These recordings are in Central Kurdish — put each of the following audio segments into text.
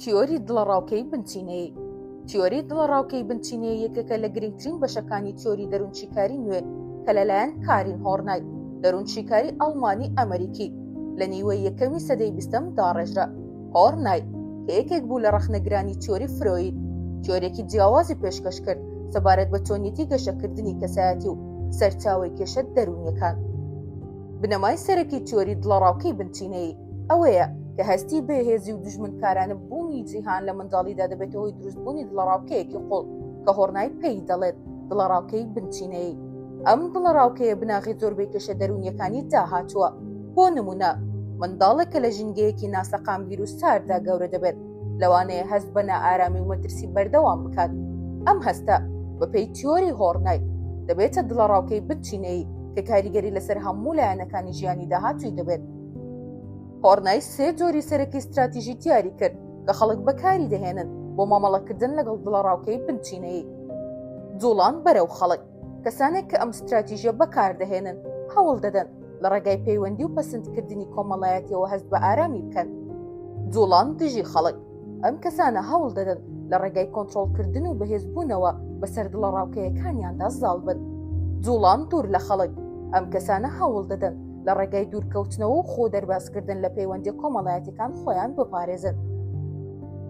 تیۆری دڵەڕاوکێی بنچینەیی تیۆری دڵەڕاوکێی بنچینەیە یەکێکە لە گرنگترین بەشەکانی تیۆری دەروونشیکاری نوێ کە لەلایەن کارین هۆرنای دەروونشیکاری ئەڵمانی ئەمریکی لە نیوەی یەکەمی سەدەی بیستەم داڕێژرا هۆرنای کە یەکێک بوو لە ڕەخنەگرانی تیۆری فرۆید تیۆرێکی جیاوازی پێشکەش کرد سەبارەت بە چۆنیەتی گەشەکردنی کەسایەتی و سەرچاوی کێشە دەروونیەکان بنەمای سەرەکی تیۆری دڵەڕاوکەی بنچینەیی ئەوەیە کە هەستی بێهێزی و دژمنکارانە بوونی جیهان لە منداڵیدا دەبێتەوەی دروستبوونی دڵەڕاوکەیەکی قوڵ کە هۆڕنای پێی دەڵێت دڵەڕاوکەی بنچینەی ئەم دڵەڕاوکەیە بناغی زۆر بێکێشە دەرونیەکانی داهاتووە بۆ نمونە منداڵێک کە لە ژینگەیەکی ناسەقامگیر و ساردا گەورە دەبێت لەوانەیە هەست بە نائارامی و مەترسی بەردەوام بکات ئەم هەستە بەپێی تیۆری هۆڕنای دەبێتە دڵەڕاوکەی بچینەی کە کاریگەری لەسەر هەموو لایەنەکانی ژیانی داهاتوی دەبێت هۆڕنای سێ جۆری سەرەکی ستراتیژی دیاری کرد کە خەڵک بەکاری دەهێنن بۆ مامەڵەکردن لەگەڵ دڵەڕاوکەی بنچینەیی جوڵان بەرەو خەڵک کەسانێک کە ئەم ستراتیژە بەکاردەهێنن هەوڵ دەدەن لە ڕێگای پەیوەندی و پەسندکردنی کۆمەڵایەتەوە هەست بە ئارامی بکەن جوڵان دژی خەڵک ئەم کەسانە هەوڵ دەدەن لە ڕێگای کۆنتترۆلکردن و بەهێزبوونەوە بەسەر دڵە ڕاوکەیەکانیاندا زاڵ بن جوڵان دوور لە خەڵک ئەم کەسانە هەوڵ دەدەن لە ڕێگای دوورکەوتنەوە و خۆ دەربازکردن لە پەیوەندی کۆمەڵایەتەکان خۆیان بپارێزن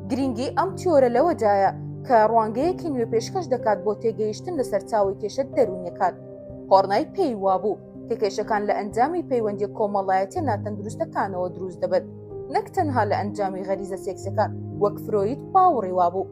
گرنگی ئەم تیۆرە لەوەدایە کە ڕوانگەیەکی نوێ پێشکەش دەکات بۆ تێگەیشتن لە سەرچاوی کێشە دەروونەکان هۆرنای پێی وابوو کە کێشەکان لە ئەنجامی پەیوەندی کۆمەڵایەتە ناتەندروستەکانەوە دروست دەبن نەک تەنها لە ئەنجامی غەریزە سێکسەکان وەک فرۆید باوەڕی وابوو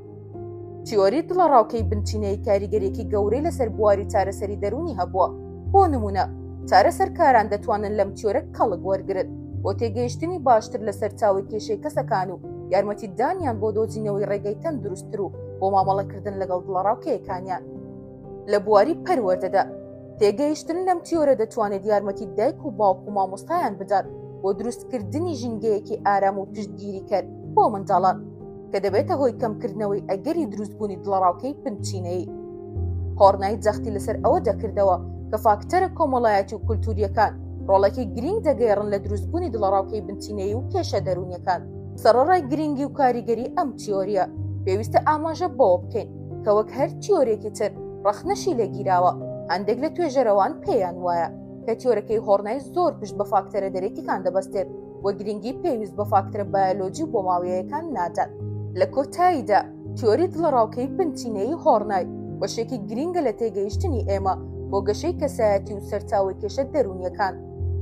تیۆری دڵەڕاوکەی بنچینەی کاریگەرێکی گەورەی لەسەر بواری چارەسەری دەرونی هەبووە بۆ نمونە چارە سەرکاران دەتوانن لەم تیۆرە کەڵک وەرگرت بۆ تێگەیشتنی باشتر لە سەرچاوی کێشەی کەسەکان و یارمەتی دانیان بۆ دۆزینەوەی ڕێگەی تەن دروستتر و بۆ مامەڵەکردن لەگەڵ دڵەڕاوکەیەکانیان لە بواری پەروەردەدا تێگەیشتن لەم تیۆرە دەتوانێت یارمەتی دایک و باوک و مامۆستایان بدات بۆ دروستکردنی ژینگەیەکی ئارام و پشتگیری کەر بۆ منداڵان کە دەبێتە هۆی کەمکردنەوەی ئەگەری دروستبوونی دڵەڕاوکەی پنچینەیی هۆڕنای جەختی لەسەر ئەوە دەکردەوە کە فاکتەرە کۆمەڵایەتی و کولتوریەکان ڕۆڵێکی گرنگ دەگەێڕن لە دروستبوونی دڵەڕاوکەی بنچینەیی و کێشە دەرونیەکان سەرڕای گرنگی و کاریگەری ئەم تیۆریە پێویستە ئاماژە بەوە بکەین کە وەک هەر تیۆرێکی تر ڕەخنەشی لێگیراوە هەندێک لە توێژەرەوان پێیان وایە کە تیۆرەکەی هۆڕنای زۆر پشت بە فاکتەرە دەرێتیکان دەبەستێت و گرنگی پێویست بە فاکترە بایۆلۆجی و بۆماویەکان نادات لە کۆتاییدا تیۆری دڵەڕاوکەی بنچینەیی هۆڕنای بەشێکی گرینگە لە تێگەیشتنی ئێمە بۆ گەشەی کەسایەتی و سەرچاوی کێشە دەروونیەکان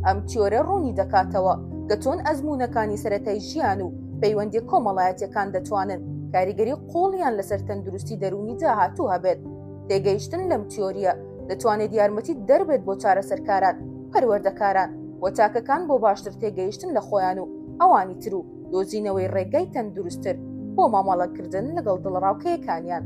ئەم تیۆرە ڕوونی دەکاتەوە کە چۆن ئەزمونونەکانی سەتای ژیان و پەیوەندی کۆمەڵایەتەکان دەتوانن کاریگەری قوڵیان لەسەر تەندروستی دەرونی داهاتوو هەبێت تێگەیشتن لەم تیۆریە دەتوانێت یارمەتی دەربێت بۆ چارەسەرکاران پەروەردەکاران و تاکەکان بۆ باشتر تێگەیشتن لە خۆیان و ئەوانی تر و دۆزینەوەی ڕێگای تەندروستتر بۆ مامەڵەکردن لەگەڵ دڵڕاوکەیەکانیان.